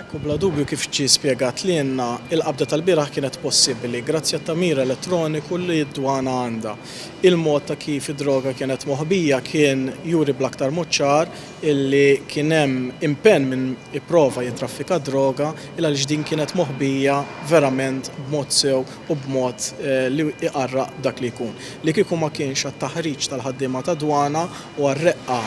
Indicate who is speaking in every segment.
Speaker 1: Hekk u bla dubju kif ġie spjegat lilna, il-qabda tal-bieraħ kienet possibbli grazzi għat-tagħmir elettroniku li d-Dwana għandha. Il-mod ta' kif id-droga kienet moħbija kien juri bl-aktar mod ċar illi kien hemm impenn minn ipprova jittraffika d-droga il għaliex din kienet moħbija verament b'mod sew u b'mod li iqarraq dak li jkun. Li kieku ma kienx għat-taħriġ tal-ħaddiema tad-Dwana u għar-reqqa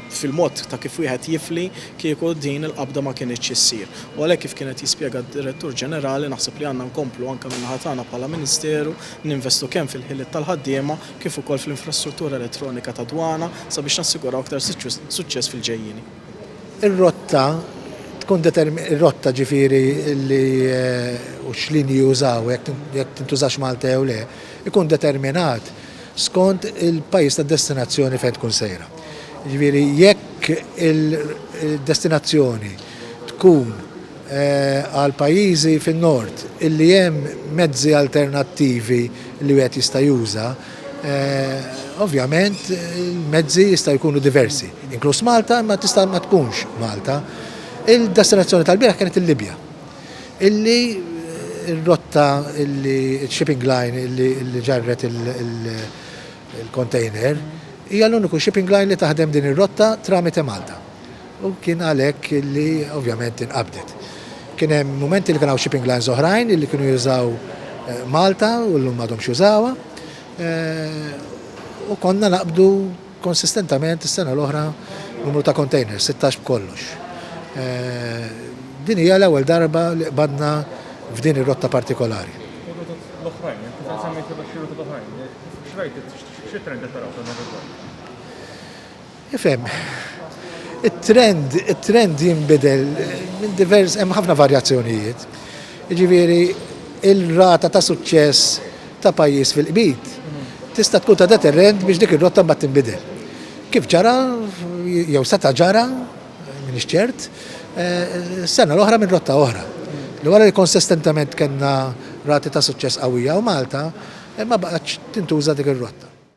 Speaker 1: fil-mod ta' kif wieħed jifli kieku din il-qabda ma kinitx issir. U għalhekk kif kien qed jispjega d-Direttur Ġenerali, naħseb li għandna nkomplu anke min-naħa tagħna bħala Ministeru ninvestu kemm fil-ħiliet tal-ħaddiema kif ukoll fl-infrastruttura elettronika tad-Dwana sabiex nassiguraw aktar suċċess fil-ġejjieni. Ir-rotta
Speaker 2: tkun determi, ir-rotta ġifieri li u x'linji jużaw, jekk tintużax Malta jew le, ikun determinat. skont il-pajjiż ta' destinazzjoni fejn tkun sejra. Jiġifieri jekk il-destinazzjoni tkun għal pajjiżi fin-Nord illi hemm mezzi alternattivi li wieħed jista' juża, ovvjament il-mezzi jistgħu jkunu diversi, inkluż Malta imma tista' ma tkunx Malta. Il-destinazzjoni tal-bieraħ kienet il-Libja. illi r-rotta illi shipping line illi ġarret il-kontejner hija l-uniku shipping line li taħdem din ir-rotta tramite Malta u kien għalhekk illi ovvjament inqabdet. Kien hemm mumenti li kien hawn shipping lines oħrajn illi kienu jużaw Malta u llum m'għadhomx jużawha u konna naqbdu Konsistentement is-sena l-oħra numru ta' kontejners, sittax b'kollox. Din hija l-ewwel darba li qbadna f'din ir-rotta partikolari. U rotot l-oħrajn?
Speaker 3: Inti semmejt li xi rotot oħrajn. X'rajt, xi trend qed taraw f'dan
Speaker 2: ir-rigward? Ifhem, it-trend, it-trend jinbidel minn divers, hemm ħafna varjazzjonijiet. Jiġifieri l-rata ta' suċċess ta' pajjiż fil-qbid tista' tkun ta' deterrent biex dik ir-rotta mbagħad tinbidel. Kif ġara, jew seta' ġara, m'iniex ċert, s-sena l-oħra minn rotta oħra, li wara li konsistentement kellna rati ta' suċċess qawwija u Malta ma baqgħetx tintuża dik ir-rotta.